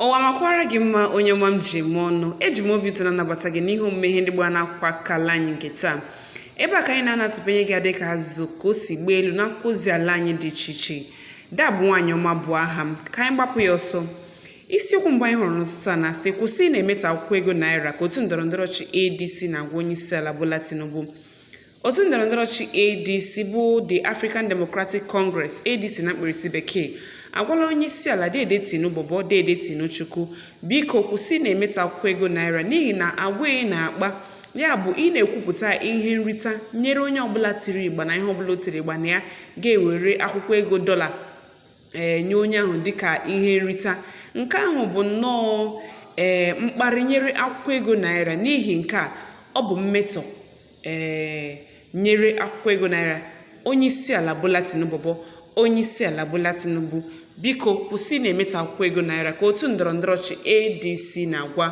ụwa makwara gị mma onye ọma m ji eme ọnụ eji m obi ụtọ na-anabata gị n'ihe omume ihe ndị gbara n'akwụkwọ akala anyị nke taa ebe a ka anyị na-anọ atụpanye gị adịka azụ ka o si gbaa elu n'akwụkwọ ozi ala anyị dị iche iche dabụ nwaanyị ọma bụ aha m ka anyị gbapụ ya ọsọ isiokwu mbụ anyị hụrụ n'ụtụtụ a na-asị kwụsị na-emetọ akwụkwọ ego naira ka otu ndọrọ ndọrọ ọchị adc na-agwa onye isi ala bola tinubu Otu ndọrọndọrọ ọchịchị ADC bụ The African Democratic Congress, ADC na mkpirisi bekee, agwala onyeisiala Dede Tinubu bụ Dede Tinuchukwu biko kwụsị na-emetọ akwụkwọ ego naira n'ihi na agwa ị na-akpa ya bụ ị na-ekwupụta ihe nrita nyere onye ọbụla tiri ịgba na ihe ọbụla o tiri ịgba na ya ga-ewere akwụkwọ ego dọla ee eh, nye onye ahụ dịka ihe nrita nke ahụ bụ nnọọ ee eh, mkparị nyere akwụkwọ ego naira n'ihi nke a ọ bụ mmetọ Ee, nyere akwụkwọ ego naira onyeisiala Bola Tinubu bụ onyeisiala Bola Tinubu biko kwụsị na-emetọ akwụkwọ ego naira ka otu ndọrọ ndọrọ ọchị ADC na-agwa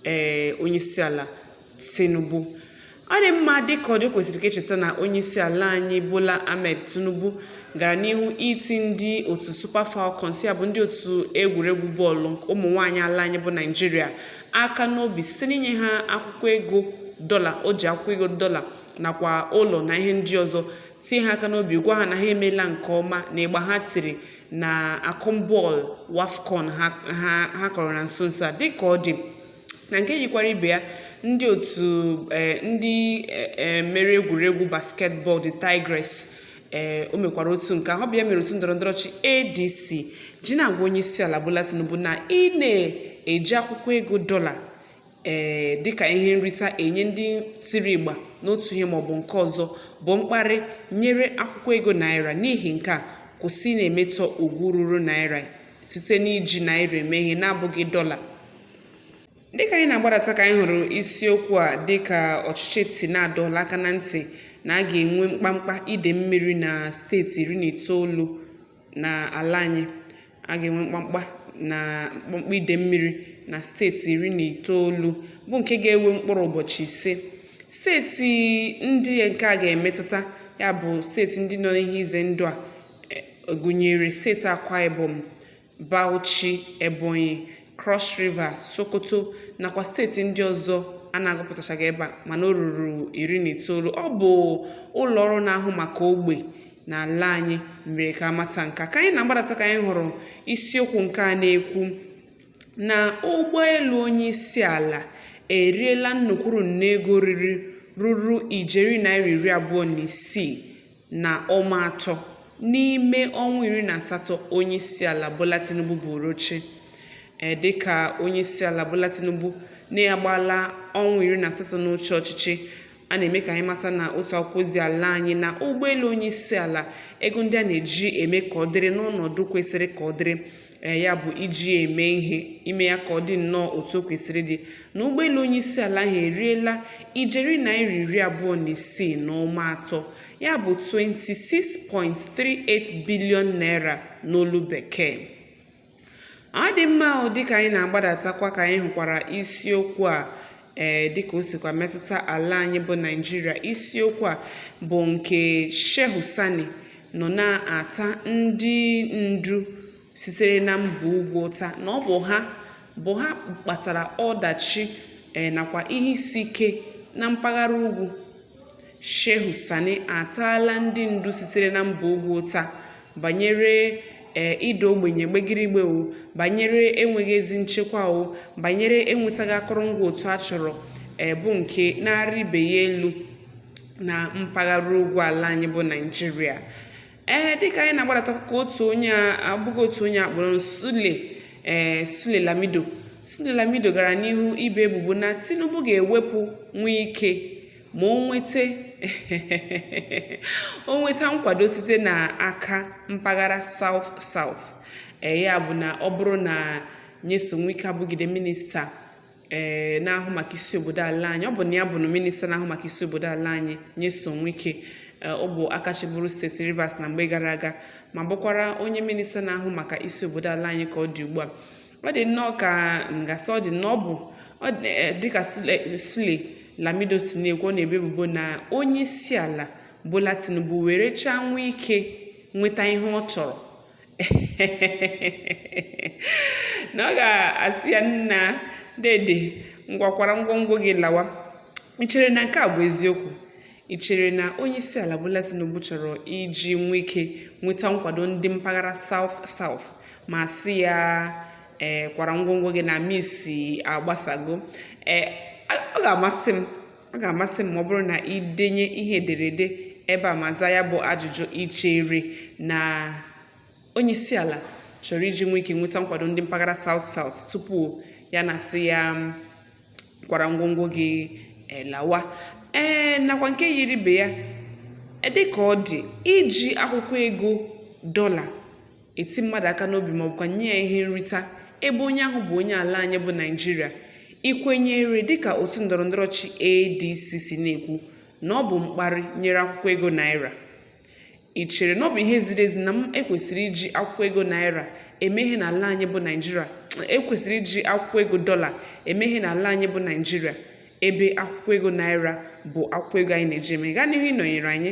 ee eh, onyeisiala Tinubu ọ dị mma dịka ọ dị kwesịrị ka e cheta na onyeisiala anyị Bola Ahmed Tinubu gara n'ihu iti ndị otu Super Falcons ya bụ ndị otu egwuregwu bọọlụ ụmụ nwaanyị ala anyị bụ Naịjirịa aka n'obi site n'inye ha akwụkwọ ego dọla o ji akwụkwọ ego dọla nakwa ụlọ na ihe ndị ọzọ tie ha aka n'obi gwa ha na ha emeela nke ọma na ịgba ha tiri na akọmbọọlụ wafcon ha kọrọ na nso nso a dịka ọ dị na nke yikwara ibe ya ndị otu eh, ndị eh, eh, mere egwuregwu basketball D'Tigress ee o mekwara otu nke ahụ ọ bụ ya mere otu ndọrọ ndọrọ ọchị adc ji na-agwa onye isi ala bola tinubu na ị na-eji akwụkwọ ego dọla ee dịka ihe nrita enye ndị tiri ịgba n'otu ihe maọbụ nke ọzọ bụ mkparị nyere akwụkwọ ego naira n'ihi nke a kwụsị na-emetọ ugwu ruru naira site n'iji naira eme ihe na-abụghị dọla dịka anyị na-agbadata ka anyị hụrụ isiokwu a dịka ọchịchị etiti na-adọla aka na ntị na a ga-enwe mkpamkpa ide mmiri na steeti iri na itoolu na ala anyị a ga-enwe mkpamkpa na mkpamkpa ide mmiri na steeti iri na itoolu bụ nke ga-ewe mkpụrụ ụbọchị ise steeti ndị nke a ga-emetụta ya bụ steeti ndị nọ n'ihe ize ndụ a e, gụnyere steeti akwa ibom Bauchi, Ebonyi, Cross River, Sokoto nakwa steeti ndị ọzọ a na-agụpụtachaghị ebe a mana o ruru iri na itoolu ọ bụ ụlọ ọrụ na-ahụ maka ogbe n'ala anyị mere ka a mata nke a ka anyị na-agbadata ka anyị hụrụ isiokwu nke a na-ekwu na ụgbọelu onye isi ala eriela nnukwuru nne ego riri ruru ijeri naira iri abụọ na isii na ụma atọ n'ime ọnwa iri na asatọ onyeisiala Bola Tinubu buuru oche e, dịka onyeisiala Bola Tinubu na-agbaala ọnwa iri na asatọ n'oche ọchịchị a na-eme ka anyị mata na otu akwụkwọ ozi ala anyị na ụgbọelu onyeisiala ego ndị a na-eji eme ka ọ dịrị n'ọnọdụ kwesịrị ka ọ dịrị ee ya bụ iji ya eme ihe ime ya ka ọ dị nnọọ otu o kwesịrị ịdị na ụgbọelu onye isi ala ahụ eriela ijeri naira iri abụọ na isii na ụma atọ ya bụ 26.38 bilion naira n'olu bekee ọ dị mma ahụ dịka anyị na-agbadatakwa ka anyị hụkwara isiokwu a ee eh, dịka o sikwa metụta ala anyị bụ Naịjirịa isiokwu a bụ nke Shehu Sani nọ na-ata ndị ndu sitere na mba ugwu ụta na ọ bụ ha bụ ha kpatara ọdachi eh, nakwa ihe isi ike na mpaghara ugwu Shehu Sani ataala ndị ndu sitere na mba ugwu ụta banyere ee ịda ogbenye gbegirigbe o, banyere enweghị ezi nchekwa o, banyere enwetaghị akụrụngwa otu a chọrọ ee bụ nke na-arị ibe ya elu na mpaghara ugwu ala anyị bụ Naịjirịa. ee dịka anyị na-agbadata ka otu onye abụghị otu onye a kpọrọ Sule ee Sule Lamido Sule Lamido gara n'ihu ibo ebubo na Tinubu ga-ewepụ Wike ma o nweta o nweta nkwado site n'aka mpaghara South South ee ya bụ na ọ bụrụ na Nyesom Wike abụgide minista ee eh, na-ahụ maka isi obodo ala anyị ọ bụ na ya bụ na minista na-ahụ maka isi obodo ala anyị Nyesom Wike eh, ọ bụ aka chịburu steeti Rivers na mgbe gara aga ma bụkwara onye minista na-ahụ maka isi obodo ala anyị ka ọ dị ugbu a ọ dị nnọọ ka m ga-asị ọ dị na ọ bụ eh, dịka Sule Lamido si na-ekwu ọ na-ebo ebubo na onye isi ala Bola Tinubu werechaa Wike nweta ihe ọ chọrọ na ọ ga-asị ya nna dede ngwa kwara ngwongwo gị lawa i chere na nke a bụ eziokwu i chere na onye isi ala Bola Tinubu chọrọ iji Wike nweta nkwado ndị mpaghara South South ma sị ya ee eh, kwara ngwongwo gị na misa agbasago ee eh, ọ ga-amasị m ọ ga-amasị m ma ọ bụrụ na i denye ihe ederede ebe a ma zaa ya bụ ajụjụ i chere na onyeisiala chọrọ iji Wike nweta nkwado ndị mpaghara South South tupu ya na-asị ya kwara ngwongwo gị eh, lawa ee eh, nakwa nke yiri ibe ya eh, dị ka ọ dị iji akwụkwọ ego dọla eti mmadụ aka n'obi ma ọ bụkwa nye ya ihe nrita ebe onye ahụ bụ onye ala anyị bụ Naịjirịa i kwenyere dịka otu ndọrọndọrọ ọchịchị ADC si na-ekwu na ọ bụ mkparị e nyere akwụkwọ ego naira i chere na ọ bụ ihe ziri ezi na m e kwesịrị iji akwụkwọ ego naira eme ihe n'ala anyị bụ Naịjirịa e kwesịrị iji akwụkwọ ego dọla eme ihe n'ala anyị bụ Naịjirịa ebe akwụkwọ ego naira bụ akwụkwọ ego anyị na-eji eme gaa n'ihu ịnọnyere anyị